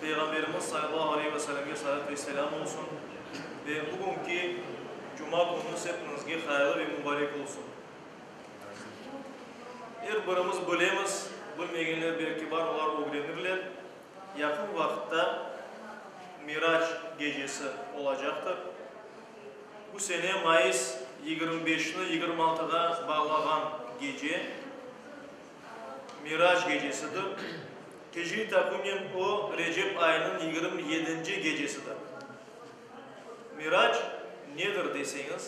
Peyğamberimiz sallallahu aleyhi ve sellemge salat ve selâm olsun ve bugünki Cuma kününiz hepinizge hayırlı ve mubarek olsun. Er birimiz bilemiz, bilmegenler belki bar, olar ögrenirler, yaqın vaqıtta Mirac gecesi olacaqtır. Bu sene mayıs yigirmi beşni yigirmi altığa bağlağan gece. Mirac gecesidir. Hicri taqvimen o, Recep ayınıñ yigirmi yedinci gecesidir. Mirac nedir deseñiz,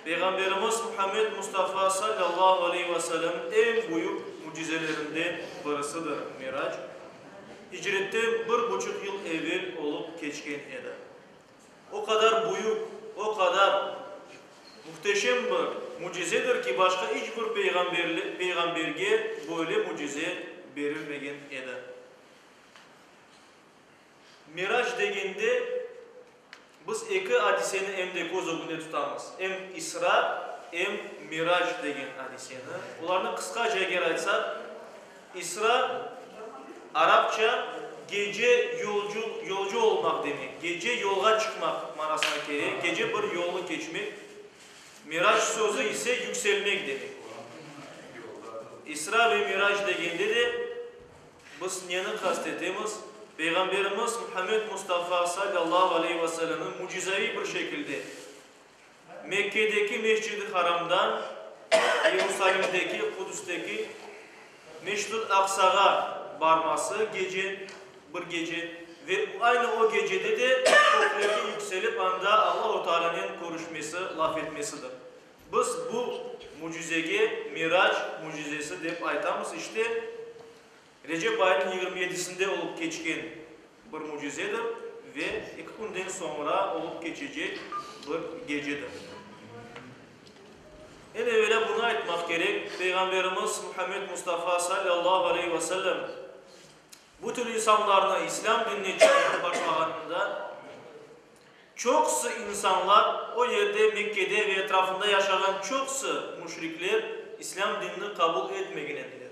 Peyğamberimiz Muhammed Mustafa sallallahu aleyhi ve sellem eñ büyük mücizelerinden birisidir Mirac. Hicretten bir buçuq yıl evel olıp keçken edi. O qadar büyük, o qadar muhteşem bir mücizedir ki, başqa iç bir peyğamberge böyle mücize berilmegen edi. Mirac degende, biz eki adiseni em de köz ögünde tutamız, em İsra, em Mirac degen adiseni. Olarnı qısqaca eger aytsaq, İsra, arapça gece yolcu, yolcu olmaq demek, gece yolğa çıqmaq manasına kele, gece bir yolnı keçmek, mirac sözü ise yükselmek demek ola. İsra ve mirac degende de biz neni qast etemiz? Peyğamberimiz Muhammed Mustafa sallallahu aleyhi ve sellemni mücizaviy bir şekilde Mekkedeki Mescid-i Haramda, Yerusalimdeki, Qudüsteki Mescid-ül Aqsağa barması gece, bir gece, ve aynı o gecede de köklerge yükselip anda Allahu Tealanen körüşmesi, laf etmesidir. Biz bu mücizege Mirac mücizesi dep aytamız. İşte, Recep ayınıñ yigirmi yedisinde olıp keçken bir mücizedir ve eki künden soñra olıp keçecek bir gecedir. Eñ evelâ bunı aytmaq kerek, Peyğamberimiz Muhammed Mustafa salâllahu aleyhi ve sellem bütün insanlarnı İslâm dinine çağırıp başlağanında, çoqusı insanlar, o yerde, Mekkede ve etrafında yaşağan çoqusı müşrikler İslâm dinini qabul etmegen ediler.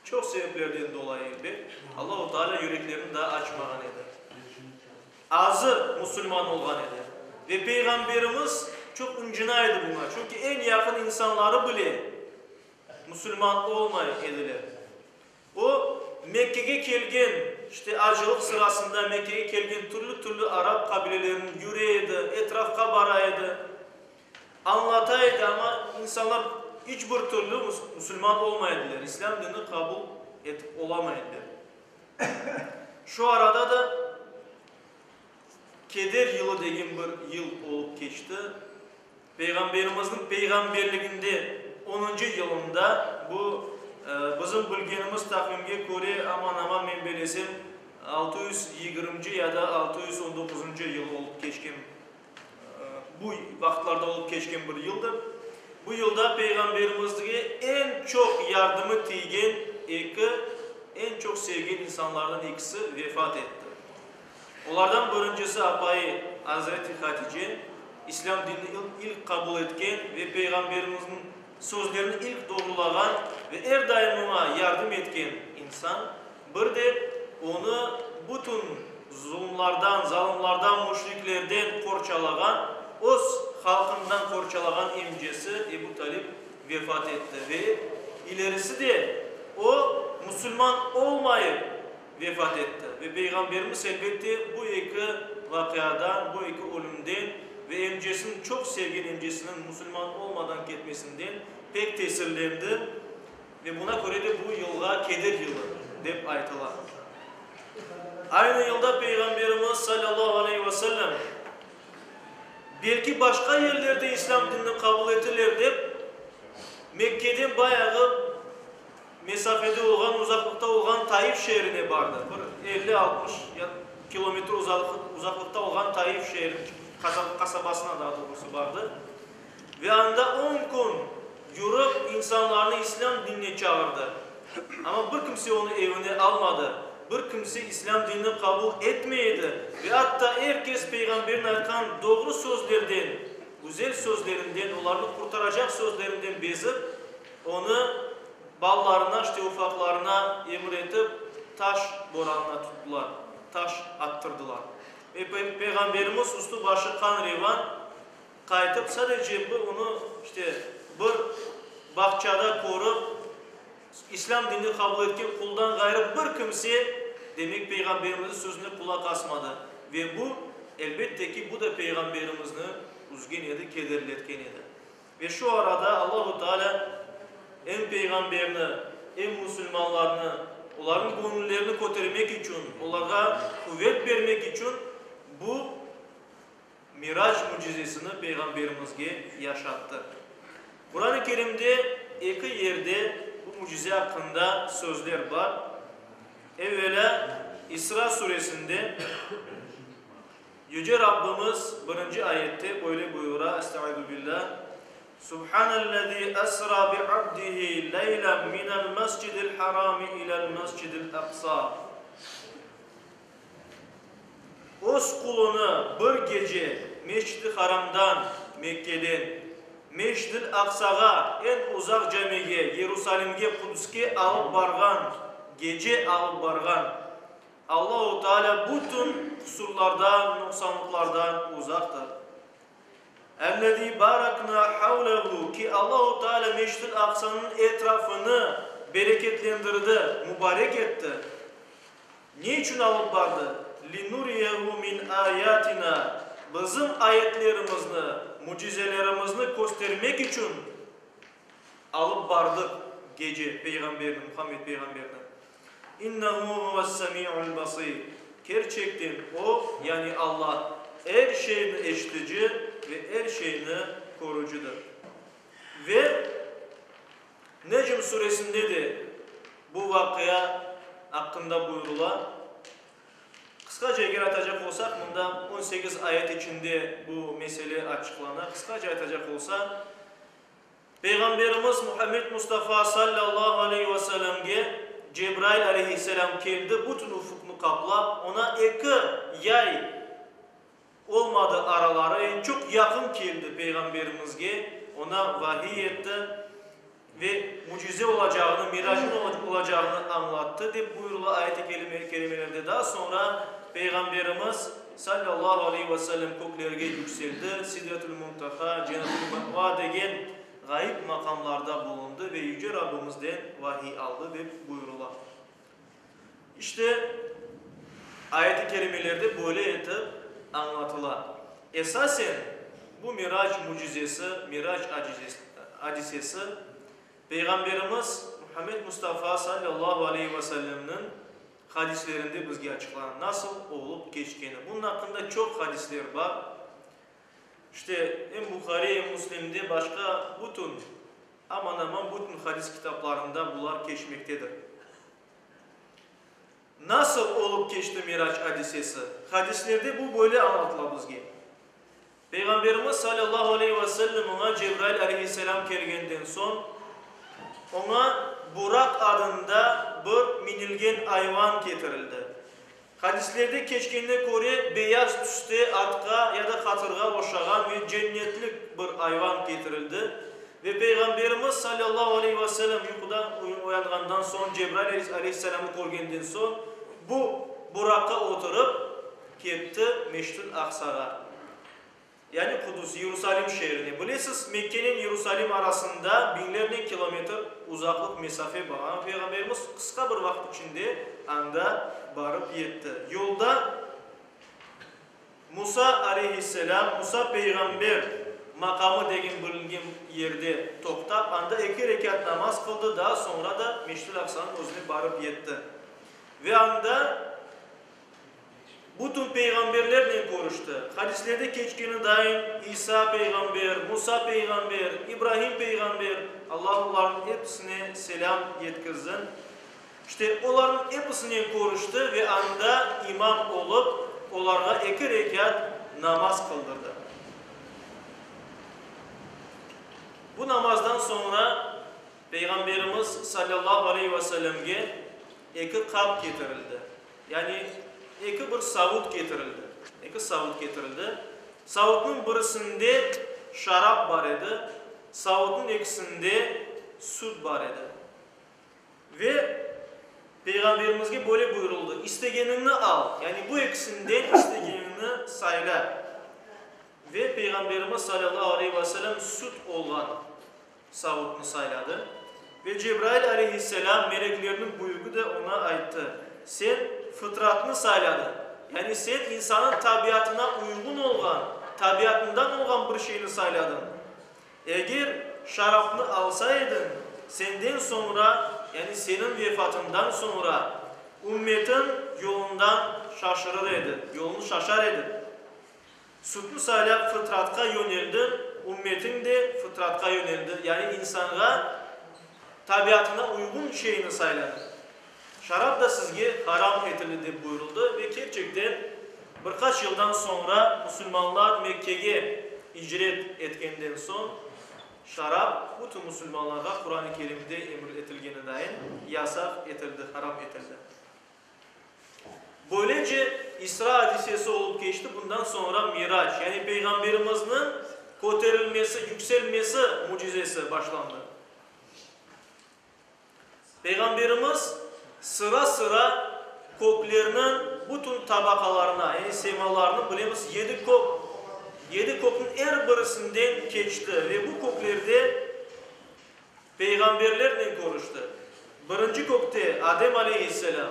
Çoq sebeplerden dolayı, elbet, Allahu Teala yüreklerini daa açmağan edi. Azı musulman olğan edi. Ve Peyğamberimiz çoq ıncına edi buña, çünki eñ yaqın insanları bile musulman olmay ediler. O, Mekkege kelgen, işte, acılıq sırasında Mekkege kelgen türlü-türlü arap qabilelerine yüre edi, etrafqa bara edi. Añlatay edi, amma insanlar iç bir türlü musulman olmay ediler, islâm dini qabul etip olamay ediler. Şu arada da keder yılı degen bir yıl olıp keçti. Peyğamberimizniñ peyğamberliginde onıncı yılında, bu, bizim bilgenimiz taqvimge köre, aman-aman men belesem, altı yüz yigirminci ya da altı yüz on doquzıncı yıl olıp keçken. Bu vaqıtlarda olıp keçken bir yıldır. Bu yılda Peyğamberimizge eñ çoq yardımı tiygen eki, eñ çoq sevgen insanlardan ekisi vefat etti. Olardan birincisi apayı Azreti Hatice, İslâm dinini ilk qabul etken ve Peyğamberimizniñ Sözlerini ilk doğrulağan ve er daim oña yardım etken insan, bir de onı bütün zulmlardan, zalımlardan, müşriklerden qorçalağan, öz halqından qorçalağan emcesi Ebu Talib vefat etti ve ilerisi de o, musulman olmayıp, vefat etti. Ve Peyğamberimiz, elbette, bu eki vaqiadan, bu eki ölümden ve emcesiniñ, çoq sevgen emcesiniñ musulman olmadan ketmesinden pek tesirlendi ve buna köre de bu yılğa keder yılı dep aytıla. Aynı yılda Peyğamberimiz, salâllahu aleyhi ve sellem, belki başqa yerlerde islâm dinini qabul etirler dep, Mekkeden bayağı, Mesafede olğan, uzaqlıqta olğan Taif şeerine bardı. Bir elli, altmış kilometr uzaqlıqta olğan Taif şeeri, qasabasına daa doğrusı, bardı. Ve anda on kün yürip, insanlarnı islâm dinine çağırdı. Amma bir kimse onı evine almadı. Bir kimse islâm dinini qabul etmey edi. Ve atta er kes Peyğamberniñ aytqan doğru sözlerden, güzel sözlerinden, olarnı qurtaracaq sözlerinden bezip, Onı balalarına, işte ufaqlarına emir etip, taş boranına tuttılar, taş attırdılar. Ve Peyğamberimiz üstü başı qan revan qaytıp, sadece bir onı, işte, bir bağçada körip, İslâm dinini qabul etken quldan ğayrı bir kimse, demek, Peyğamberimizniñ sözüne qulaq asmadı. Ve bu, elbette ki, bu da Peyğamberimizni üzgen edi, kederletken edi. Ve şu arada Allahu Teala em Peyğamberni, em musulmanlarnı, olarnıñ göñüllerini kötermek içün, olarğa quvet bermek içün bu Mirac mücizesini Peyğamberimizge yaşattı. Quran-ı Kerimde eki yerde bu mücize aqqında sözler bar. Evvelâ İsra suresinde. Yüce Rabbimiz birinci ayette böyle buyura, Estaizubillah, Subhanellezi esra bi abdihi leylen minel mescidil harami ilel mescidil aqsa Öz qulunı bir gece Mescid-i Haramdan, Mekkeden, Mescid-il Aqsağa, eñ uzaq camige, Yerusalimge, Qudüske alıp barğan, gece alıp barğan, Allahu Teala bütün qusurlardan, nuqsanlıqlardan uzaqtır. Ellezî baraknâ havlehu, ki, Allahu Teala Mescid-i Aqsanıñ etrafını bereketlendirdi, mubarek etti. Ne içün alıp bardı? Linuriyehu min ayatina, bizim ayetlerimizni, mücizelerimizni köstermek içün alıp bardı gece Peyğamberni, Muhammed peyğamberni. İnnehu huves-semi'ul-basir, Kerçekten O, yani Alla, er şeyni eşitici ve er şeyni körücidir. Ve Necm suresinde de bu vaqia aqqında buyurula. Qısqaca eger aytacaq olsaq, mında on sekiz ayet içinde bu mesele açıqlana. Qısqaca aytacaq olsa. Peyğamberimiz Muhammed Mustafa sallallahu aleyhi ve sellemge Cebrail aleyhisselam keldi, bütün ufuqnı qaplap, oña eki yay olmadı araları, çoq yaqın keldi Peyğamberimizge, oña vahiy etti ve mücize olacağını, miracın olacağını añlattı, dep buyurıla ayet-i kerimelerde. Daa soñra Peyğamberimiz. Sallallahu aleyh ve sellem köklerge yükseldi, Sidretül Muntaha, Cenetül Me'va degen ğayıp maqamlarda bulundı ve Yüce Rabbımızden vahiy aldı, dep buyurıla. İşte, ayet-i kerimelerde böyle etip añlatıla. Esasen, bu Mirac mücizesi, Mirac adisesi, Peyğamberimiz Muhammed Mustafa, Sallallahu aleyh ve sellemniñ Hadislerinde bizge açıqlanan nasıl olıp keçkeni. Bunun aqqında çoq hadisler bar. İşte, em Buhariy, em Müslimde, başqa bütün, aman-aman bütün hadis kitaplarında bular keçmektedir. Nasıl olıp keçti Mirac adisesi? Hadislerde bu böyle añlatıla bizge. Peyğamberimiz salâllahu aleyhi ve sellem oña Cebrail aleyhisselâm kelgenden soñ, oña Buraq adında bir minilgen ayvan ketirildi. Hadislerde keçkenne köre, beyaz tüste atqa ya da qatırğa oşağan ve cennetlik bir ayvan ketirildi ve Peyğamberimiz salâllahu aleyhi ve sellem yuqudan oyanğandan soñ, Cebrail aleyhisselâmı körgenden soñ, bu Buraqqa oturıp, Ketti Meştün Aqsağa, yani Qudus, Yerusalim şeerine. Bilesiz, Mekkenen Yerusalim arasında biñlernen kilometr uzaqlıq mesafe bar, amma Peyğamberimiz qısqa bir vaqıt içinde anda barıp yetti. Yolda Musa aleyhisselam, Musa peyğamber maqamı degen bilingen yerde toqtap, anda eki rekât namaz qıldı, daa soñra da Meştül Aqsanıñ özüne barıp yetti. Ve anda. Bütün peyğamberlernen körüşti. Hadislerde keçkeni daim İsa peyğamber, Musa peyğamber, İbrahim peyğamber, Allah olarnıñ episine selâm yetkirsin, işte, olarnıñ episinen körüşti ve anda imam olıp, olarğa eki rekat namaz qıldırdı. Bu namazdan soñra Peyğamberimiz salâllahu aleyhi ve sellemge eki qap ketirildi. Yani eki bir savut ketirildi. Eki savut ketirildi. Savutnıñ birisinde şarap bar edi, savutnıñ ekisinde süt bar edi. Ve Peyğamberimizge böyle buyurıldı, istegeniñni al, yani bu ekisinden istegeniñni sayla. Ve Peyğamberimiz salâllahu aleyhi ve sellem süt olğan. Savudnı sayladı. Ve Cebrail aleyhisselâm, meleklerniñ büyügi de oña ayttı, Sen fıtratnı sayladıñ, yani sen insanıñ tabiatına uyğun olğan, tabiatından olğan bir şeyni sayladıñ. Eger şarapnı alsa ediñ, senden soñra, yani seniñ vefatından soñra, ümmetiñ yolundan şaşırır edi, yolunı şaşar edi. Sütni saylap fıtratqa yöneldi, ümmetin de fıtratqa yöneldi, yani insanğa tabiatına uyğun şeyni sayladı. Şarap da sizge haram etildi dep buyuruldı ve kerçekten bir qaç yıldan soñra musulmanlar Mekkege icret etkenden soñ şarap bütün musulmanlarğa Quran-ı Kerimde emir etilgenidain yasaq etildi, haram etildi. Böylece İsra adisesi olıp keçti, bundan soñra Mirac, yani Peyğamberimizniñ köterilmesi, yükselmesi mücizesi başlandı. Peyğamberimiz sıra-sıra köklerniñ bütün tabaqalarına, yani semalarnıñ, bilemiz, yedi kök, yedi kökniñ er birisinden keçti ve bu köklerde, peyğamberlernen körüşti. Birinci kökte Adem aleyhisselâm,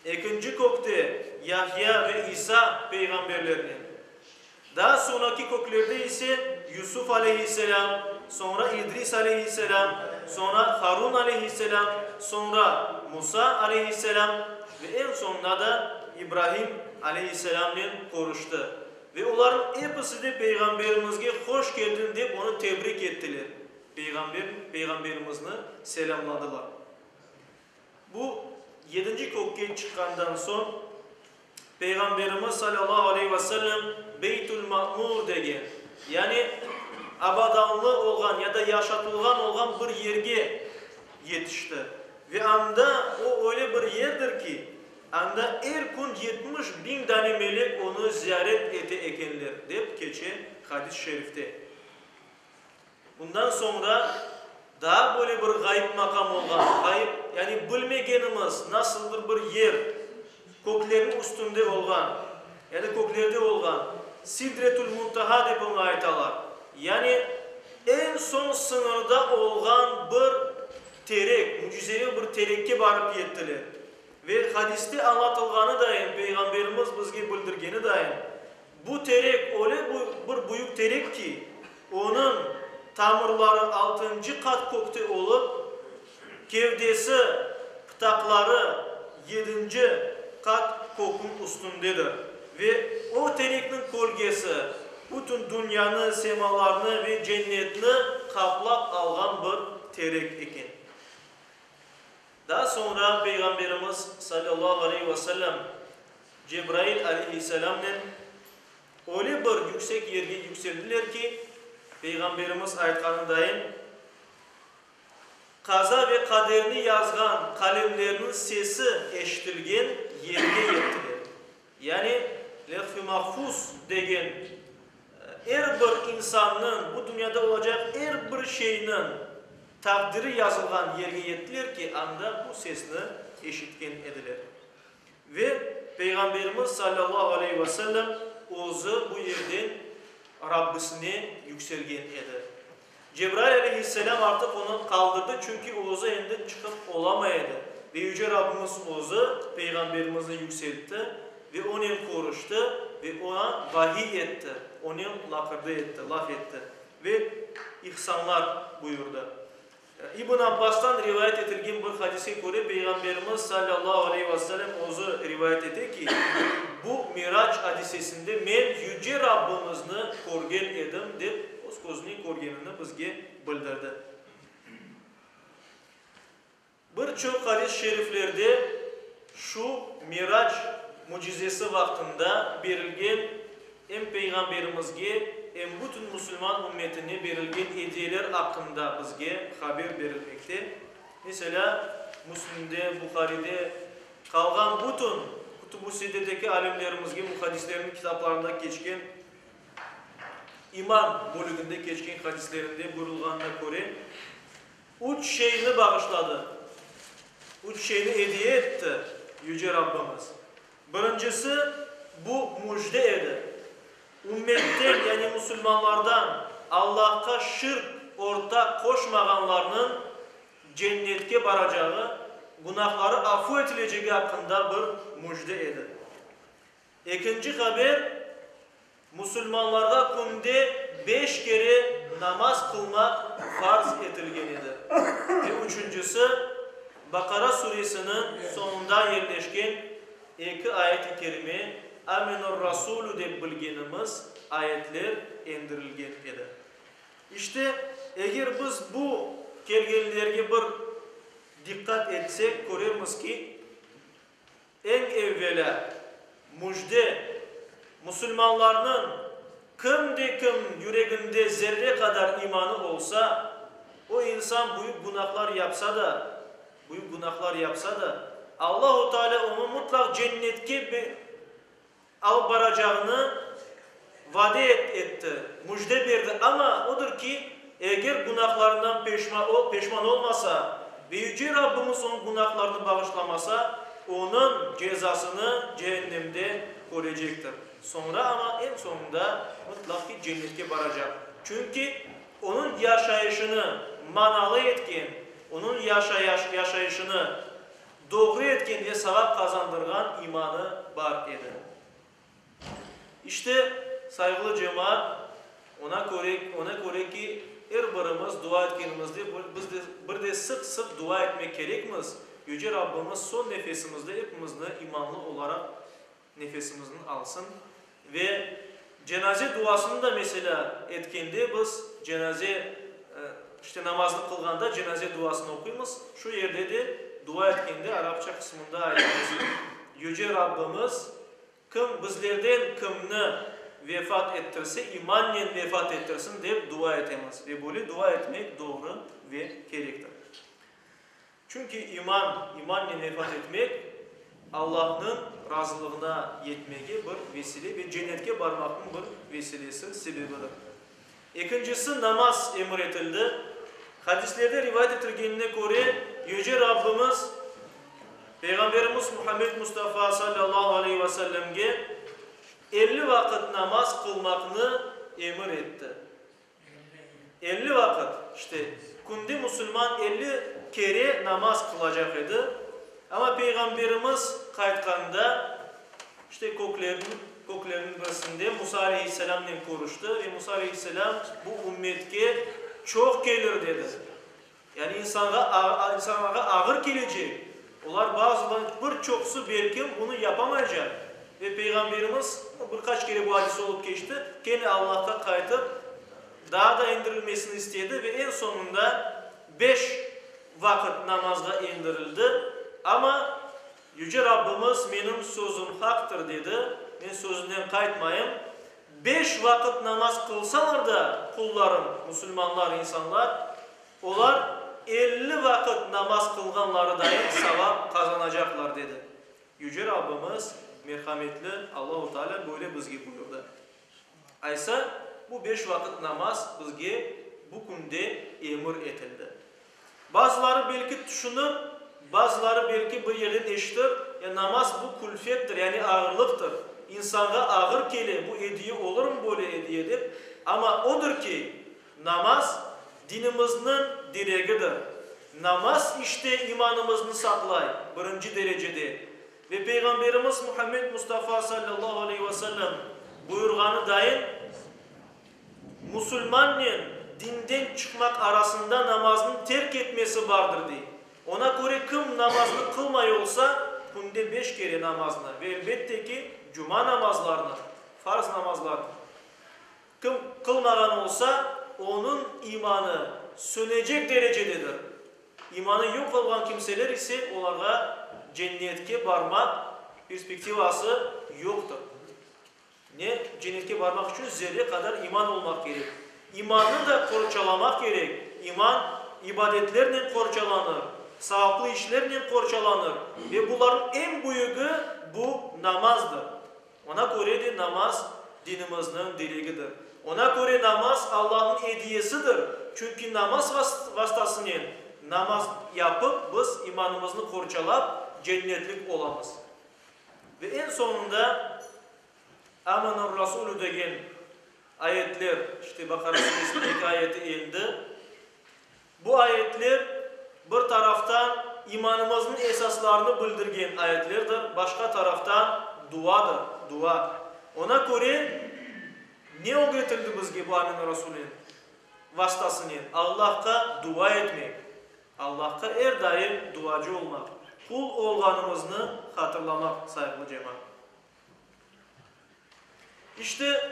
ekinci kökte Yahya ve İsa peyğamberlernen, daa soñaki köklerde ise Yusuf aleyhisselâm, soñra İdris aleyhisselâm, soñra Harun aleyhisselâm, soñra Musa aleyhisselâm ve eñ soñunda da İbrahim aleyhisselâmnen körüşti. Ve olarnıñ episi de peyğamberimizge hoş keldin dep onı tebrik ettiler. Peyğamber Peyğamberimizni selâmladılar. Bu yedinci kökke çıqqandan soñ Peyğamberimiz salâllahu aleyhi ve sellem Beytül Ma'mur degen, yani abadanlı olğan ya da yaşatılğan olğan bir yerge yetişti. Ve anda, o öyle bir yerdir ki, anda er kün yetmiş biñ dane melek onı ziyaret ete ekenler, dep keçe hadis-şerifte. Bundan soñra daa böyle bir ğayıp maqam olğan, ğayıp, yani bilmegenimiz nasıldır bir yer, köklerniñ üstünde olğan, yani köklerde olğan, Sidretül-Muntaha dep oña aytalar, yani eñ soñ sıñırda olğan bir terek, mücizeli bir terekke barıp yettiler. Ve hadiste añlatılğanıdayin, Peyğamberimiz bizge bildirgenidayin, Bu terek öyle bir büyük terek ki, onıñ tamırları altıncı qat kökte olıp, kevdesi, pıtaqları yedinci qat kökniñ üstündedir. Ve o terekniñ kölgesi bütün dünyanı, semalarnı ve cennetni qaplap alğan bir terek eken. Daa soñra Peyğamberimiz, sallallahu aleyh ve sellem, Cebrail aleyhisselamnen öyle bir yüksek yerge yükseldiler ki, Peyğamberimiz aytqanındayin, qaza ve qaderni yazğan qalemlerniñ sesi eşitilgen yerge yettiler. Yani Levh-i Mahfuz degen er bir insannıñ, bu dünyada olacaq er bir şeyniñ taqdiri yazılğan yerge yettiler ki, anda bu sesni eşitken ediler. Ve Peyğamberimiz sallallahu aleyhi ve sellem özü bu yerden Rabbisine yükselgen edi. Cebrail aleyhisselâm artıq onı qaldırdı, çünki o özü endi çıqıp olamay edi. Ve Yüce Rabbimiz Özü Peyğamberimizni yükseltti ve onen körüşti ve oña vahiy etti, onen laqırdı etti, laf etti ve ihsanlar buyurdı. İbn Abbastan rivayet etilgen bir hadise köre, Peyğamberimiz sallallahu aleyhi ve sellem Özü rivayet ete ki, Bu Mirac adisesinde men Yüce Rabbimizni körgen edim, dep Köznü körgenini bizge bildirdi. Bir çoq hadis şeriflerde şu Mirac mücizesi vaqtında berilgen em Peyğamberimizge, em bütün musulman ümmetine berilgen ediyeler aqqında bizge haber berilmekte. Meselâ, Müslimde, Buharide qalğan bütün Kütüb-ü-Siddedeki alimlerimizge muhaddislerniñ kitaplarında keçken İman bölüginde keçken hadislerinde buyurılğanına köre, üç şeyni bağışladı, üç şeyni ediye etti Yüce Rabbimiz. Birincisi, bu müjde edi, ümmetten, yani musulmanlardan Allahqa şirk ortaq qoşmağanlarnıñ Cennetke baracağı, günahları afu etilecegi aqqında bir müjde edi. Ekinci haber, musulmanlarğa künde beş kere namaz qılmaq farz etilgen edi ve üçüncisi, Baqara suresiniñ soñunda yerleşken eki ayet-i kerime, Âmenur Rasûlû dep bilgenimiz ayetler endirilgen edi. İşte, eger biz bu kelgenlerge bir diqqat etsek, körermiz ki, Eñ evvelâ, müjde, musulmanlarnıñ kim de kim yüreginde zerre qadar imanı olsa, o insan büyük günahlar yapsa da, büyük günahlar yapsa da, Allahu Taalâ onı mutlaq cennetke Alıp baracağını vade etti, müjde berdi, amma odur ki, eger günahlarından peşman olmasa ve Yüce Rabbimiz onıñ günahlarını bağışlamasa, onıñ cezasını cehennemde körecektir. Soñra amma eñ soñunda mıtlaq ki, cennetke baracaq. Çünki onıñ yaşayışını manalı etken, onıñ yaşayışını Doğru etkenge sağa qazandırğan imanı bar edi. İşte, sayğılı cemaat, oña köre, oña köre ki, er birimiz dua etkenimizde biz de, bir de sıq-sıq dua etmek kerekmiz, Yüce Rabbimiz soñ nefesimizde epimizni imanlı olaraq Nefesimizni alsın. Ve cenaze duasını da, meselâ, etkende biz cenaze, işte, namaznı qılğanda cenaze duasını oquymız. Şu yerde de dua etkende arapça qısmında aytmamız kerek, Yüce Rabbimiz, kim bizlerden kimni vefat ettirse, imannen vefat ettirsin, dep dua etemiz. Ve böyle dua etmek doğru ve kerektir. Çünki iman, imannen vefat etmek, Allahnıñ razılığına yetmege bir vesile ve cennetke barmaqnıñ bir vesilesi, sebebidir. Ekincisi, namaz emir etildi. Hadislerde rivayet etilgenine köre, Yüce Rabbimiz Peyğamberimiz Muhammed Mustafa sallallahu aleyhi ve sellemge elli vaqıt namaz qılmaqnı emir etti. Elli vaqıt, işte, künde musulman elli kere namaz qılacaq edi, amma Peyğamberimiz qaytqanda, işte, köklerniñ, köklerniñ birisinde Musa aleyhisselâmnen körüşti ve Musa aleyhisselâm, bu ümmetke çoq kelir, dedi. Yani insanğa, insanlarğa ağır kelecek, olar bazıları, bir çoqusı belkim bunı yapamaycaq. Ve Peyğamberimiz, bir qaç kere bu adis olıp keçti, kene Allahqa qaytıp, daa da endirilmesini istedi ve eñ soñunda beş vaqıt namazğa endirildi. Amma Yüce Rabbimiz, Menim sözüm haqtır, dedi, Men sözümden qaytmayım. Beş vaqıt namaz qılsalar da qullarım, musulmanlar, insanlar, olar elli vaqıt namaz qılğanlarıdayım savap qazanacaqlar, dedi. Yüce Rabbimiz, Merhametli Allahu Taalâ böyle bizge buyurdı. Aysa, bu beş vaqıt namaz bizge bu künde emir etildi. Bazıları belki tüşünir, bazıları belki bir yerden eşitir, Ya namaz bu külfettir, yani ağırlıqtır, insanğa ağır kele, bu ediye olurmı böyle ediye dep, amma odur ki, namaz dinimizniñ diregidir. Namaz işte imanımıznı saqlay, birinci derecede. Ve Peyğamberimiz Muhammed Mustafa sallallahu aleyhi ve sellem buyurğanıdayin, musulmannen dinden çıqmaq arasında namaznıñ terk etmesi bardır, dey. Oña köre kim namaznı qılmay olsa, künde beş kere namaznı, ve elbette ki, cuma namazlarını, farz namazlarını. Kim qılmağan olsa, onıñ imanı sönecek derecededir. İmanı yoq olğan kimseler ise, olarğa cennetke barmaq perspektivası yoqtır. Ne, cennetke barmaq içün zerre qadar iman olmaq kerek. İmannı da qorçalamaq kerek. İman ibadetlernen qorçalanır, savaplı işlernen qorçalanır. Ve bularnıñ eñ büyügi, bu namazdır. Oña köre de namaz dinimizniñ diregidir. Oña köre namaz Allanıñ ediyesidir. Çünki namaz vastasınen, namaz yapıp, biz imanımıznı qorçalap, cennetlik olamız. Ve eñ soñunda Âmenâr Rasûlû degen ayetler, işte Baqara Suresiniñ eki ayeti endi. Bu ayetler, bir taraftan, imanımıznıñ esaslarını bildirgen ayetlerdir, başqa taraftan, duadır, dua. Oña köre, ne ögretildi bizge bu Amin Rasulen vastasınen? Allahqa dua etmek, Allahqa er daim duacı olmaq, qul olğanımıznı hatırlamaq, sayğılı cemaat. İşte,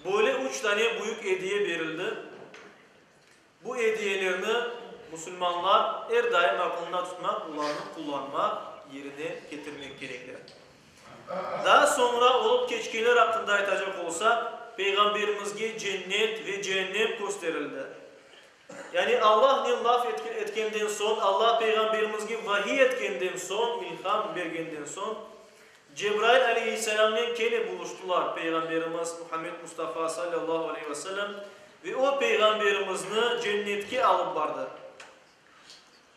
böyle üç dane büyük ediye berildi. Bu ediyelerni musulmanlar er daim aqılında tutmaq, olarnı qullanmaq, yerine ketirmek kerekler. Daa soñra olıp keçkenler aqqında aytacaq olsaq, Peyğamberimizge cennet ve cehennem kösterildi. Yani Allah ne laf etkenden soñ, Allah Peyğamberimizge vahiy etkenden soñ, ilham bergenden soñ, Cebrail aleyhisselamnen kene buluştılar Peyğamberimiz Muhammed Mustafa sallallahu aleyhi ve sellem ve o, Peyğamberimizni Cennetke alıp bardı.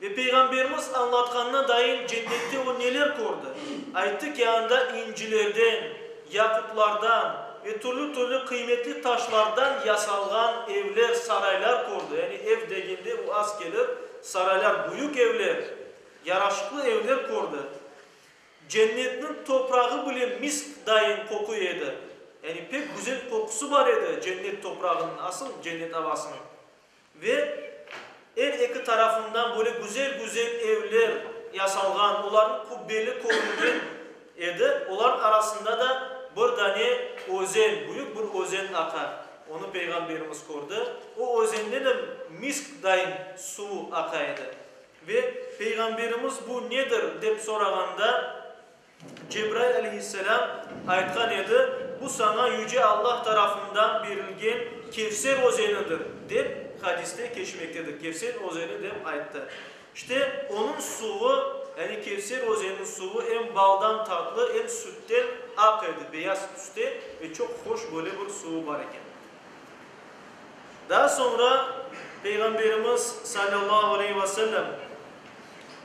Ve Peyğamberimiz añlatqanına dayın Cennette o neler kördi? Ayttı ki, anda incilerden, yaqutlardan ve türlü-türlü qıymetli taşlardan yasalğan evler, saraylar kördi. Yani ev degende o az kelir, saraylar, büyük evler, yaraşıqlı evler kördi. Cennetniñ toprağı bile misk dayın qoquy edi. Yani pek güzel qoqusı bar edi cennet toprağınıñ, asıl cennet avasınıñ. Ve er eki tarafından böyle güzel-güzel evler yasalğan, olarnıñ qubbeli körüngen edi. Olarnıñ arasında da bir dane özen, büyük bir özen aqa. Onı Peyğamberimiz kördi. O özenden em misk dayın suvu aqa edi. Ve Peyğamberimiz bu nedir dep sorağanda, Cebrail aleyhisselâm aytqan edi, Bu saña Yüce Allah tarafından berilgen Kevser özenidir, dep hadiste keçmektedir, Kevser özeni dep ayttı. İşte, onıñ suvı, yani Kevser özeniniñ suvı em baldan tatlı, em sütten aq edi, beyaz tüste ve çoq hoş böyle bir suvı bar eken. Daa soñra Peyğamberimiz salâllahu aleyhi ve sellem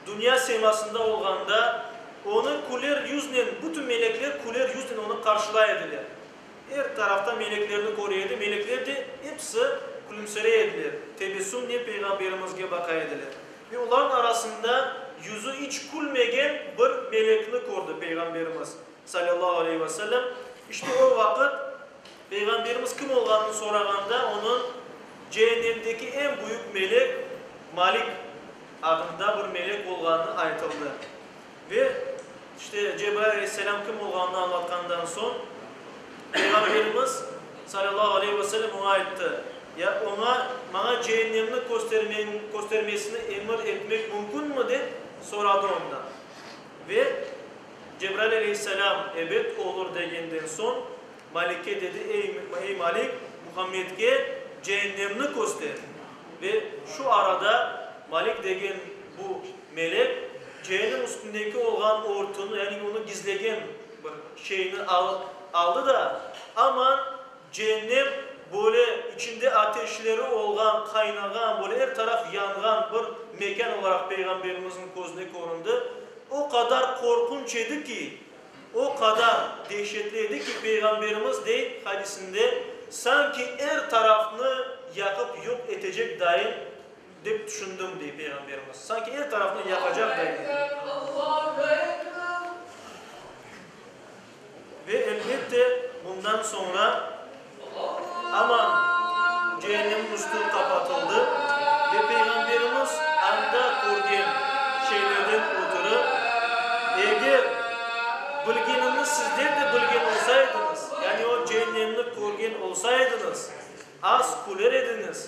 dünya semasında olğanda, onı küler yüznen, bütün melekler küler yüznen onı qarşılay ediler. Er tarafta meleklerni köre edi, melekler de episi külümsirey ediler, tebessümnen Peyğamberimizge baqa ediler. Ve olarnıñ arasında yüzü iç külmegen bir melekni kördi Peyğamberimiz salâllahu aleyhi ve sellem. İşte o vaqıt Peyğamberimiz kim olğanını sorağanda, onıñ Cehennemdeki eñ büyük melek Malik adında bir melek olğanı aytıldı. Ve işte Cebrail aleyhisselam kim olğanını añlatqandan soñ, Peyğamberimiz salâllahu aleyhi ve sellem oña ayttı, Ya oña, maña Cehennemni köstermeñ, köstermesini emir etmek mümkünmi? dep soradı ondan. Ve Cebrail aleyhisselam, Ebet, olur, degenden soñ, Malike dedi, Ey, Malik, Muhammedke ceennemni köster! Ve şu arada Malik degen bu melek ceennem üstündeki olğan örtüni, yani onı gizlegen bir şeyni alıp aldı da, aman ceennem böyle içinde ateşleri olğan, qaynağan, böyle er taraf yanğan bir mekân olaraq Peyğamberimizniñ közüne köründi. O qadar qorqunç edi ki, O qadar dehşetli edi ki, Peyğamberimiz dey hadisinde, Sanki er tarafnı yaqıp yoq etecekdayin dep tüşündim, dey Peyğamberimiz. Sanki er tarafnı yaqacaqdayin edi. Ve, elbette, bundan soñra Aman, cehennemniñ üstü qapatıldı, ve Peyğamberimiz anda körgen şeylerden ötürü, Eger bilgenimni sizler de bilgen olsaydıñız, yani o cehennemni körgen olsaydıñız, az küler ediñiz,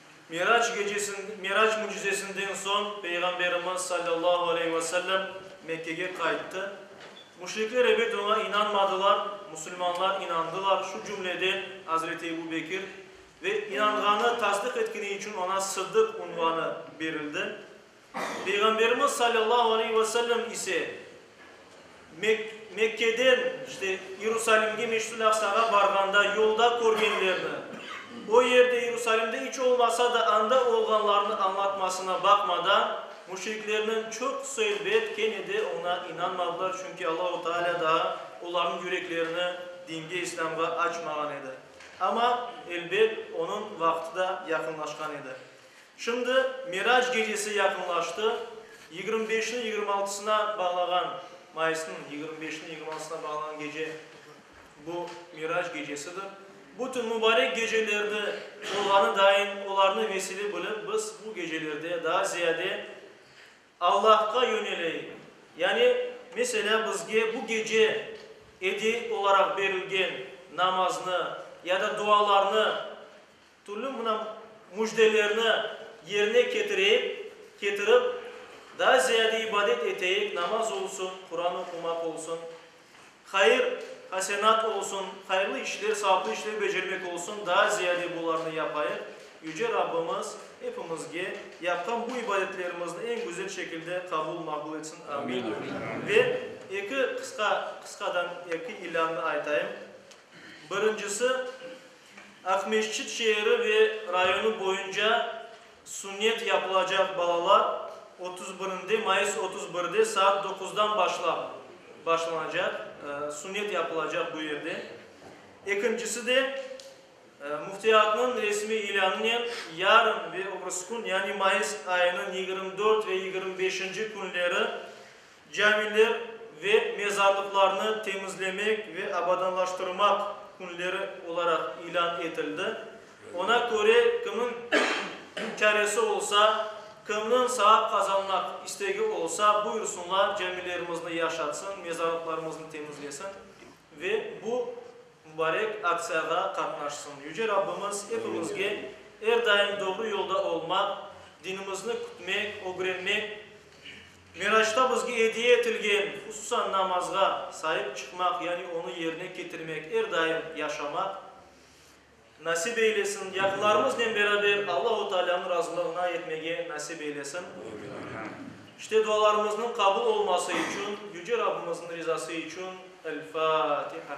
Mirac gecesi, Mirac mücizesinden soñ Peyğamberimiz, sallallahu aleyhi ve sellem, Mekkege qayttı. Müşrikler ebet oña inanmadılar, musulmanlar inandılar, şu cümleden Azreti Ebu Bekir, ve inanğanı, tasdıq etkeni içün oña Sıddıq unvanı berildi. Peyğamberimiz salâllahu aleyh ve sellem ise Mekkeden işte İrusalimge, Meşit-ül Aqsağa barğanda yolda körgenlerini, o yerde İrusalimde iç olmasa da anda olğanlarını añlatmasına baqmadan, müşriklerniñ çoqusı elbet kene de oña inanmadılar, çünki Allahu Teala daa olarnıñ yüreklerini dinge, İslâmğa açmağan edi. Amma, elbet, onıñ vaqtı da yaqınlaşqan edi. Şimdi Mirac gecesi yaqınlaştı, yigirmi beşni yigirmi altısına bağlağan, mayısnıñ yigirmi beşini yigirmi altısına bağlağan gece bu Mirac gecesidir. Bu tün mübarek gecelerdi olğanı dain olarnı vesile bilip biz bu gecelerde daa ziyade Allahqa yöneleyik. Yani, meselâ, bizge bu gece ediye olaraq berilgen namaznı ya da dualarnı, Türlü mına müjdelerni yerine ketireyik, ketirip, daa ziyade ibadet eteyik, namaz olsun, Quran oqumaq olsun, hayır, hasenat olsun, hayırlı işler, savaplı işler becermek olsun, daa ziyade bularnı yapayıq. Yüce Rabbimiz epimizge yapqan bu ibadetlerimizni eñ güzel şekilde qabul, maqbul etsin. Amin. Ve eki qısqa, qısqadan eki ilânnı aytayım. Birincisi, Aqmescit şeeri ve rayonı boyunca sünnet yapılacaq balalar otuz birinde, mayıs otuz birde saat doquzdan başlap başlanacaq, sünnet yapılacaq bu yerde. Ekincisi de, Müftiyatnıñ resmiy ilânınen yarın ve öbürsü kün, yani mayıs ayınıñ yigirmi dört ve yigirmi beşinci künleri Camiler ve mezarlıqlarnı temizlemek ve abadanlaştırmaq künleri olaraq ilân etildi. Oña köre, kimniñ çaresi olsa, kimniñ savap qazanmaq istegi olsa, buyursınlar, camilerimizni yaşatsın, mezarlıqlarımıznı temizlesin ve bu mubarek aktsiyağa qatnaşsın. Yüce Rabbimiz epimizge er daim doğru yolda olmaq, dinimizni kütmek, ögrenmek, Miraçta bizge ediye etilgen, hususan namazğa saip çıqmaq, yani onı yerine ketirmek, er daim yaşamaq nasip eylesin, yaqınlarımıznen beraber Allahu Taalânıñ razılığına yetmege nasip eylesin. İşte dualarımıznıñ qabul olması içün Yüce Rabbimizniñ rizası içün El-Fâtiha.